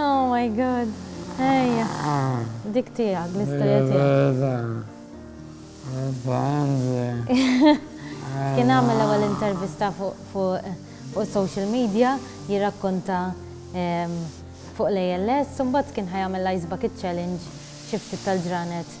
Oh my god. Ejja. Dik tiegħek l-istorja tiegħek. Kien għamel l-ewwel intervista fuq social media jirrakkonta ehm, fuq l-ALS, mbagħad kien ħajamel l-Ice Bucket Challenge xi ftit tal-ġranet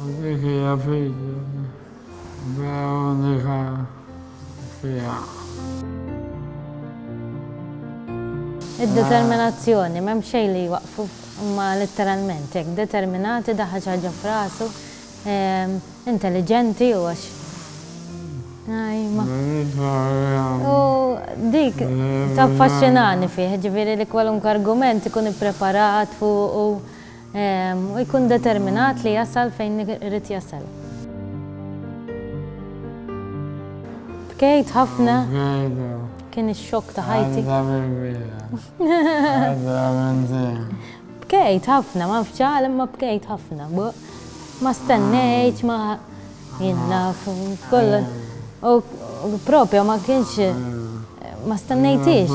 Dik hija fidi da unika fiha. Id-determinazzjoni, m'hemm xejn li jwaqqfu, huma litteralment hekk, determinati, daħħal xi ħaġa f'rasu, intelliġenti u għax. U dik taffaxxinani fih, ġifieri li kwalunkwe argument ikun ippreparat fuqu. U jkun determinat li jasal fejn irid jasal. Bkejt ħafna. Kien ix-xokk ta' ħajti. Bkejt ħafna, ma nafx għal imma bkejt ħafna. Ma stennejt, ma jien naf kollha. U propja ma kienx ma stennejtix.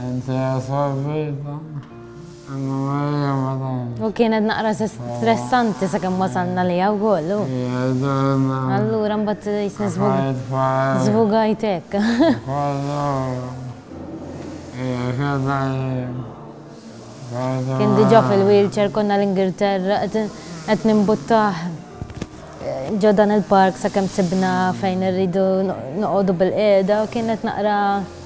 Inti għasabita, għanna marja madan. U kienet naqra stressanti sa' kem wasalna li għaw kollu. Jadonna. Allura mbatt jisni zvugajtek. Kollu. Kien diġa fil-wheelchair konna l-Ingilterra, għet nimbuttaħ ġodan il-park sa' kem sibna fejn rridu noqodu bil-qeda, kienet naqra.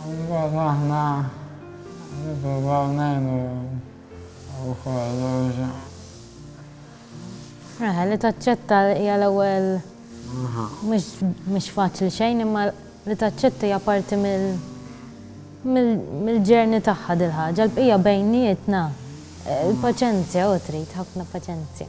Allura aħna nippruvaw ngħinu wkoll u. Eħe, li taċċetta hija l-ewwel mhux mhux faċli xejn imma li taċċetta hija parti mill mill-journey tagħha dil-ħaġa. Il-bqija bejnietna, il-paċenzja, hu trid ħafna paċenzja.